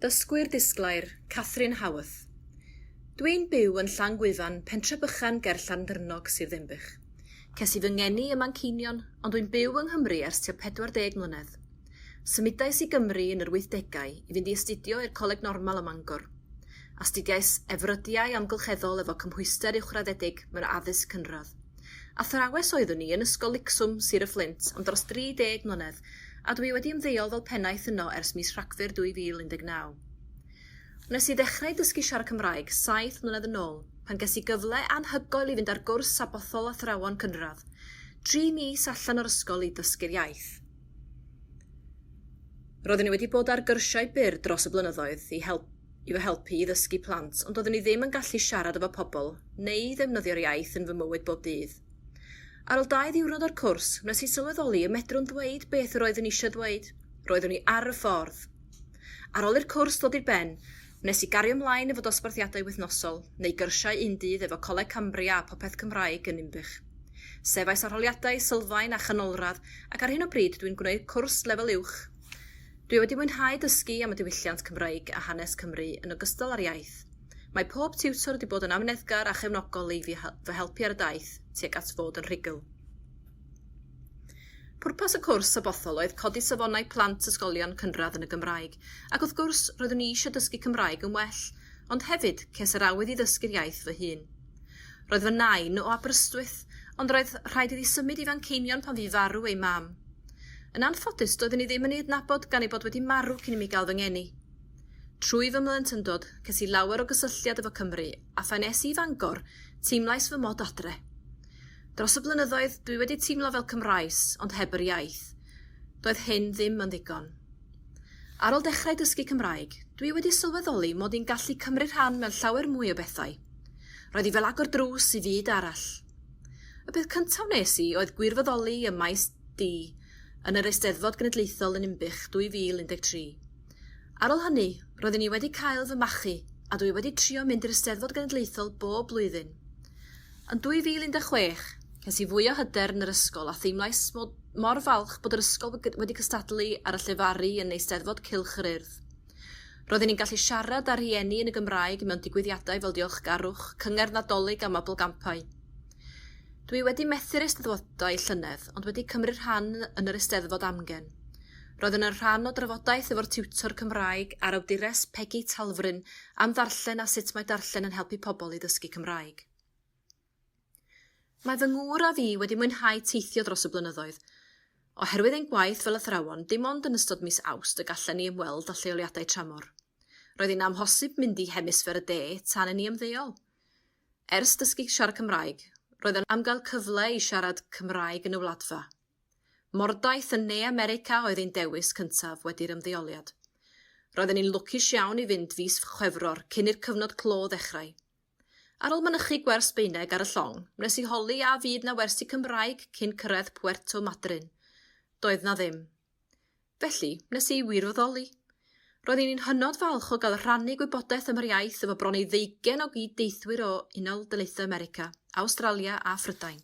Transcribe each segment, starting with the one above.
Dysgwyr disglair, Catherine Howarth. Dw i'n byw yn Llangwyfan, pentre bychan ger Llandyrnog, Sir Ddinbych. Ces i fy ngeni ym Manceinion, ond wy'n byw yng Nghymru ers tua 40 mlynedd. Symudais i Gymru yn yr wythdegau i fynd i astudio i'r Coleg Normal ym Mangor. Astudiais Efrydiau Amgylcheddol efo cymhwyster uwchraddedig mewn addysg cynradd. Athrawes oeddwn i yn Ysgol Licswm, Sir y Fflint, am dros 30 mlynedd, a dw i wedi ymddeol fel pennaeth yno ers mis Rhagfyr 2019. Wnes i ddechrau dysgu siarad Cymraeg saith mlynedd yn ôl, pan ges i gyfle anhygoel i fynd ar gwrs sabothol athrawon cynradd, dri mis allan o'r ysgol i ddysgu'r iaith. Roeddwn i wedi bod ar gyrsiau byr dros y blynyddoedd i helpu i'w helpu i ddysgu plant ond doeddwn i ddim yn gallu siarad efo pobl neu ddefnyddio'r iaith yn fy mywyd bob dydd. Ar ol dau ddiwrnod o'r cwrs, wnes i sylweddoli y medrwn ddweud beth yr oeddwn eisiau ddweud, roeddwn i ar y ffordd! Ar ol i'r cwrs ddod i'r ben, wnes i gario mlaen efo dosbarthiadau wythnosol, neu gyrsiau un dydd efo Coleg Cambria a Popeth Cymraeg yn Ninbych. Sefais arholiadau, sylfaen a chanolradd ac ar hyn o bryd dwi'n gwneud cwrs lefel uwch Dwi wedi mwynhau dysgu am y diwylliant Cymraeg a hanes Cymru yn ogystal â'r iaith. Mae pob tiwtor wedi bod yn amyneddgar a chefnogol i fi fy helpu ar y daith tuag at fod yn rhugl. Pwrpas y cwrs Sabothol oedd codi safonau plant ysgolion cynradd yn y Gymraeg, ac wrth gwrs, roeddwn i eisiau dysgu Cymraeg yn well, ond hefyd, ces yr awydd i ddysgu'r iaith fy hun. Roedd fy nain o Aberystwyth, ond roedd rhaid iddi symud i Fanceinion pan fu farw ei mam. Yn anffodus, doeddwn i ddim yn ei adnabod gan ei bod wedi marw cyn i mi gael fy ngeni. Trwy fy mhlentyndod, ces i lawer o gysylltiad efo Cymru, a phan es i i Fangor, teimlais fy mod adre. Dros y blynyddoedd, dwi wedi teimlo fel Cymraes, ond heb yr iaith. Doedd hyn ddim yn ddigon. Ar ol dechrau dysgu Cymraeg, dwi wedi sylweddoli mod i'n gallu cymryd rhan mewn llawer mwy o bethau. Roedd hi fel agor drws i fyd arall. Y peth cyntaf wnes i oedd gwirfoddoli ym maes D yn yr Eisteddfod Genedlaethol yn Inbych 2013. Ar ôl hynny, roeddwn i wedi cael fy machu a dwi wedi trio mynd i'r Eisteddfod Genedlaethol bob blwyddyn. Yn 2016, ces i fwy o hyder yn yr ysgol a theimlais mor falch bod yr ysgol wedi cystadlu ar y llefaru yn Eisteddfod Cylch yr Urdd. Roedden ni'n gallu siarad â rhieni yn y Gymraeg mewn digwyddiadau fel diolchgarwch, cyngerdd Nadolig a mabolgampau. Dw i wedi methu'r Eisteddfodau llynedd ond wedi cymryd rhan yn yr Eisteddfod amgen. Roeddwn yn rhan o drafodaeth efo'r tiwtor Cymraeg a'r awdures Pegi Talfryn am ddarllen a sut mae darllen yn helpu pobl i ddysgu Cymraeg. Mae fy ngŵr a fi wedi mwynhau teithio dros y blynyddoedd. Oherwydd ein gwaith fel athrawon, dim ond yn ystod mis Awst y gallen ni ymweld â lleoliadau tramor. Roedd hi'n amhosib mynd i Hemisffer y De tan i ni ymddeol. Ers dysgu siarad Cymraeg, roedd yna am gael cyfle i siarad Cymraeg yn y Wladfa. Mordaith yn Ne America oedd ein dewis cyntaf wedi'r ymddeoliad. Roedden ni'n lwcus iawn i fynd fis Chwefror cyn i'r cyfnod clo ddechrau. Ar ol mynychu gwers Sbeineg ar y llong, wnes i holi a fydd 'na wersi Cymraeg cyn cyrraedd Puerto Madryn. Doedd 'na ddim. Felly, wnes i wirfoddoli. Roeddwn i'n hynod falch o gael rhannu gwybodaeth am yr iaith efo bron i ddeugain o gyd-deithwyr o Unol Daleithiau America, Awstralia a Phrydain.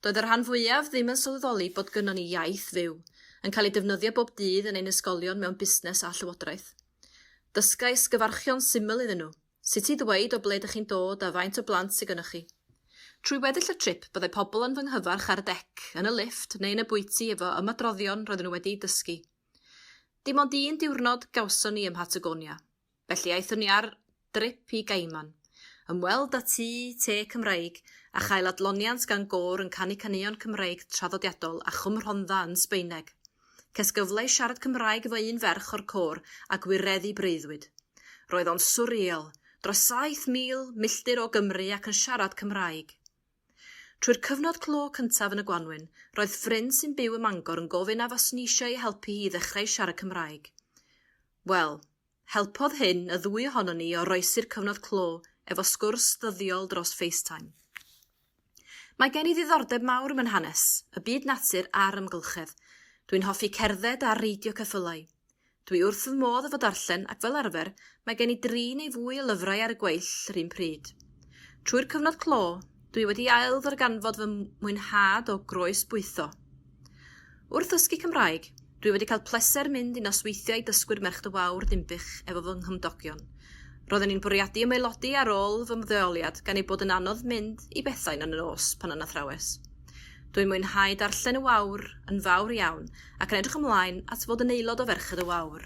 Doedd y rhan fwyaf ddim yn sylweddoli bod gynnon ni iaith fyw, yn cael ei defnyddio bob dydd yn ein ysgolion mewn busnes a llywodraeth. Dysgais gyfarchion syml iddyn nhw. Sut i ddweud o ble dych chi'n dod a faint o blant sy gynnoch chi. Trwy weddill y trip byddai pobl yn fy nghyfarch ar y dec, yn y lifft neu yn y bwyty efo ymadroddion roedden nhw wedi'u dysgu. Dim ond un diwrnod gawson ni ym Mhatagonia. Felly aethon ni ar drip i Gaiman. Ymweld â tŷ te Cymraeg a chael adloniant gan gôr yn canu caneuon Cymraeg traddodiadol a Chwm Rhondda yn Sbaeneg. Ces gyfle i siarad Cymraeg efo un ferch o'r côr a gwireddu breuddwyd. Roedd o'n swriel, dros 7,000 milltir o Gymru ac yn siarad Cymraeg! Trwy'r cyfnod clo cyntaf yn y gwanwyn, roedd ffrind sy'n byw ym Mangor yn gofyn a faswn i eisiau ei helpu hi i ddechrau siarad Cymraeg. Wel, Helpodd hyn y ddwy ohonon ni i oroesi'r cyfnod clo efo sgwrs ddyddiol dros FaceTime. Mae gen i ddiddordeb mawr ym mynhanes, y byd natur a'r amgylchedd. Dwi'n hoffi cerdded a reidio ceffylau. Dwi wrth fy modd efo darllen ac fel arfer mae gen i dri neu fwy o lyfrau ar y gweill yr un pryd. Trwy'r cyfnod clo, dwi wedi ailddarganfod fy mwynhad o groesbwytho. Wrth ddysgu Cymraeg, dwi wedi cael pleser mynd i nosweithiau dysgwyr Merch Dŷ Fawr, Dinbych, efo fy nghymdogion. Roedden ni'n bwriadu ymaelodi ar ôl fy mddeoliad gan ei bod yn anodd mynd i bethau yn y nos pan yn athrawes. Dwi'n mwynhau darllen y Wawr yn fawr iawn ac yn edrych ymlaen at fod yn aelod o Ferched y Wawr.